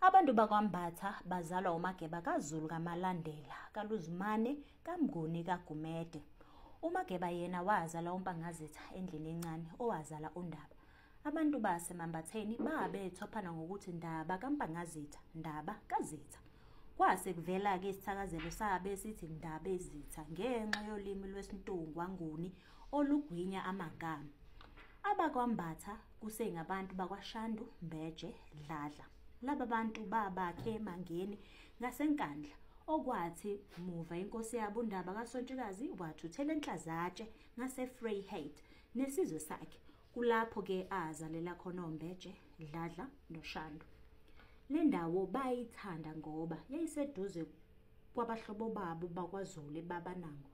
Abantu bakwaMbatha bazalwa uMageba kaZulu kaMalandela, kaLuzumane, kaMnguni kaGumede. UMageba yena wazala uMpangazitha endlini encane owazala uNdaba. Abantu baseMambatheni babethophana ngokuthi Ndaba kaMpangazitha, Ndaba kaZitha. Kwase kuvela-ke isithakazelo sabe sithi Ndabezitha ngenxa yolimi lwesiNtungwa Nguni olugwinya amagama. AbakwaMbatha kusengabantu bakwaShandu Mbeje Dladla. Laba bantu babakhe eMangeni ngaseNkandla okwathi muva inkosi yabo uNdaba kaSontshikazi wathuthela eNhlazatshe ngaseFreyheit nesizwe sakhe kulapho ke azalela khona oMbeje Dladla noShandu. Le ndawo bayithanda ngoba yayiseduze kwabahlobo babo bakwaZulu eBabanango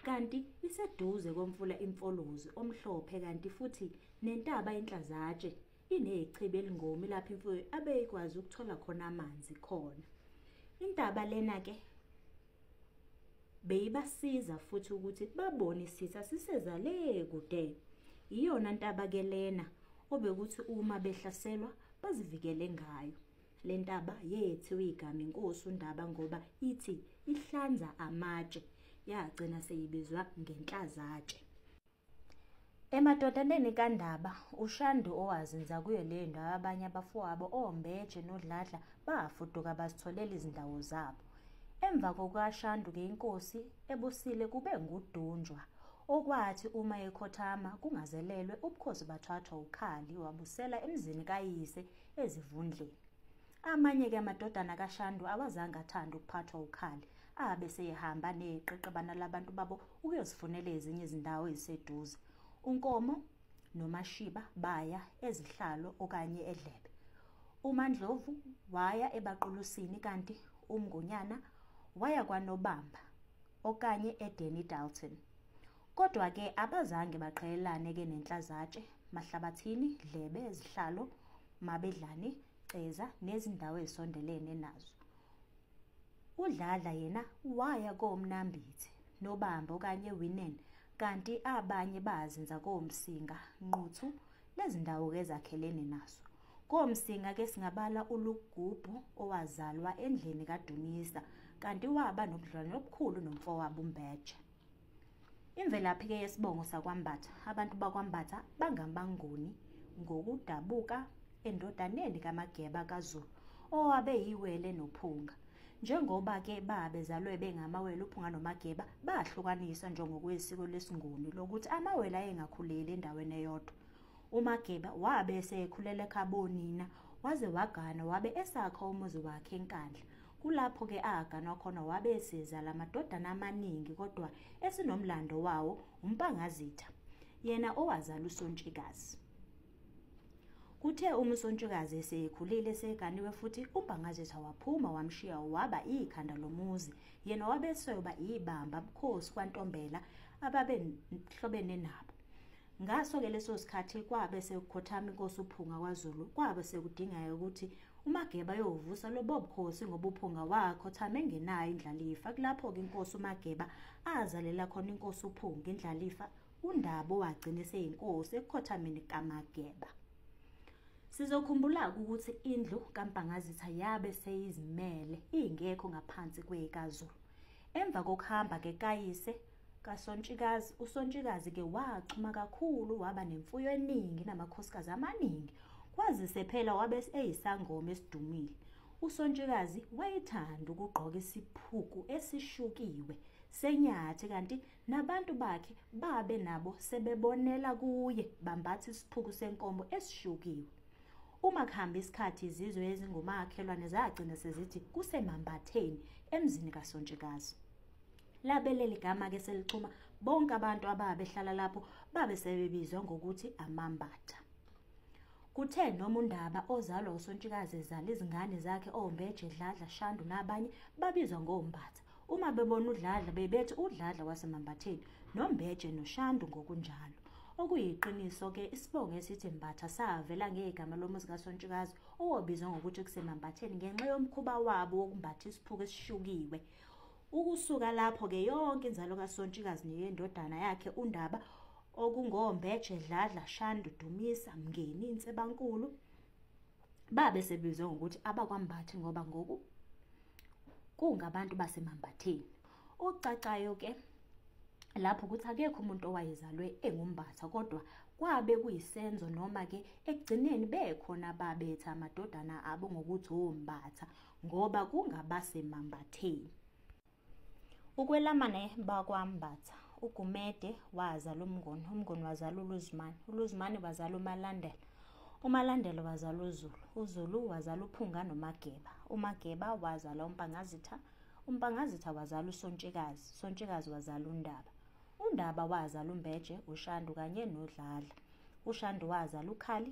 kanti iseduze komfula imfolozi omhlophe kanti futhi nentaba inhlazatshe inechibi elingomi lapho imfuyo abeyikwazi ukuthola khona amanzi khona intaba lena ke beyibasiza futhi ukuthi babone isitha siseza le kude iyona ntaba ke lena obekuthi uma behlaselwa bazivikele ngayo le ntaba yethiwe igama inkosi undaba ngoba ithi ihlanza amatshe yagcina seyibizwa ngenhlazatshe emadodaneni kandaba ushandi owazinza kuyo leyo ndawo abanye abafowabo ombeje nodladla bafuduka bazitholela izindawo zabo emva kokukashandu-ke inkosi ebusile kube ngudunjwa okwathi uma ekhothama kungazelelwe ubukhosi bathathwa ukhali wabusela emzini kayise ezivundleni amanye-ke amadodana kashandu awazange athande ukuphathwa ukhali abe seyehamba neqeqebana labantu babo ukuyozifunela ezinye izindawo eziseduze unkomo nomashiba baya ezihlalo okanye edlebe umandlovu waya ebaqulusini kanti umngonyana waya kwanobamba okanye edeni dalton Kodwa ke abazange baqhelelane ke nenhlazatshe, mahlabathini, dlebe, zihlalo, mabedlane, ceza nezindawo ezisondelene nazo. UDladla yena waya koMnambithi, Nobamba okanye Winen kanti abanye bazinza koMsinga, Nquthu nezindawo ke ezakhelene nazo. KoMsinga ke singabala uLugubhu owazalwa endlini kaDumisa kanti waba nobudlwane obukhulu nomfowabo uMbeje. Imvelaphi-ke yesibongo sakwaMbatha. Abantu bakwaMbatha bangamanguni ngokudabuka endodaneni kaMageba kaZulu owabe yiwele nophunga. Njengoba ke babezalwe bengamawele uphunga noMageba bahlukaniswa njengokuyisiko lesinguni lokuthi amawele ayengakhuleli endaweni eyodwa. UMageba wabe esekhulela ekhabonina waze wagana wabe esakha umuzi wakhe eNkandla. Kulapho ke aganwa khona wabe esiza lamadodana amaningi kodwa esinomlando wawo uMpangazitha yena owazala uSontshikazi. Kuthe uma uSontshikazi esekhulile seganiwe futhi uMpangazitha waphuma wamshiya waba ikhanda lomuzi yena wabe esoyoba ibamba bukhosi kwaNtombela ababehlobene nabo. Ngaso-ke leso sikhathi kwabe sekukhothama inkosi uPhunga kwaZulu, kwabe sekudingeka ukuthi uMageba ayovusa lobo bukhosi ngoba uPhunga wakhothama engenayo indlalifa. Kulapho-ke inkosi uMageba azalela khona inkosi uPhunga indlalifa, uNdaba owagcina eseyinkosi ekukhothameni kaMageba. Sizokhumbula-ke ukuthi indlu kaMpangazitha yabe seyizimele, ingekho ngaphansi kweyikaZulu. Emva kokuhamba-ke kayise, kasontshikazi usontshikazi ke wachuma kakhulu waba nemfuyo eningi namakhosikazi amaningi kwazise phela wabe eyisangoma esidumile usontshikazi wayethanda ukugqoka isiphuku esishukiwe senyathi kanti nabantu bakhe babe nabo sebebonela kuye bambatha isiphuku senkomo esishukiwe uma kuhamba isikhathi izizwe ezingumakhelwane zagcina sezithi kusemambatheni emzini kasontshikazi labe leli gama-ke selixhuma bonke abantu ababehlala lapho babe sebebizwa ngokuthi amambatha kuthe noma undaba ozalwa usontshikazi ezala izingane zakhe ombeje dladla shandu nabanye babizwa ngombatha uma bebona udladla bebethi udladla wasemambatheni nombeje noshandu ngokunjalo okuyiqiniso-ke isibongo esithi mbatha savela ngegama lomuzi kasontshikazi owobizwa ngokuthi kusemambatheni ngenxa yomkhuba wabo wokumbatha isiphuku esishukiwe Ukusuka lapho-ke yonke inzalo kaSontshikazi neyendodana yakhe uNdaba okungoMbeje, Dladla, Shandu, Dumisa, Mngeni, Nsebankulu babe sebizwe ngokuthi abakwaMbathi ngoba ngoku kungabantu baseMambatheni. Okucacayo-ke lapho ukuthi akekho umuntu owayezalwe engumbatha kodwa kwabe kuyisenzo noma-ke ekugcineni bekhona babethi amadodana abo ngokuthi ombatha ngoba kungabasemambatheni ukwelamane bakwambatha ugumede wazala umngoni umngoni wazala uluzimane uluzimane wazala umalandela umalandela wazala uzulu uzulu wazala uphunga nomageba umageba wazala umpangazitha umpangazitha wazala usontshikazi sontshikazi wazala undaba undaba wazala umbeje ushandu kanye nodlala ushandu wazala ukhali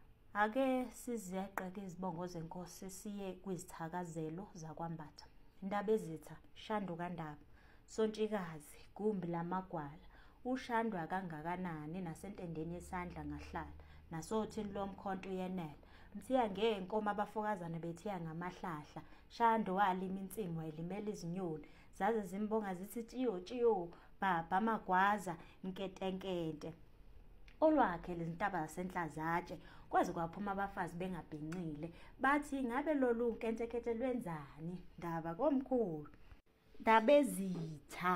Ake sizeqeke izibongo zenkosi siye kwizithakazelo zakwambatha. Ndabezitha, Shandu kaNdaba, Sontshikazi, Gumbi lamagwala, uShandu akangakanani nasentendeni yesandla ngahlala, nasothini lomkhonto uyenela. Mthiya ngenkomo abafokazana bethiya ngamahlahla, Shandu walima insimu wayilimela izinyoni, zaze zimbonga zithi tshiyo tshiyo bhabha magwaza nketenkete olwakhe lezintaba zasenhlazatshe kwaze kwaphuma abafazi bengabhincile bathi ngabe lolu nkentekete lwenzani ndaba komkhulu ndabezitha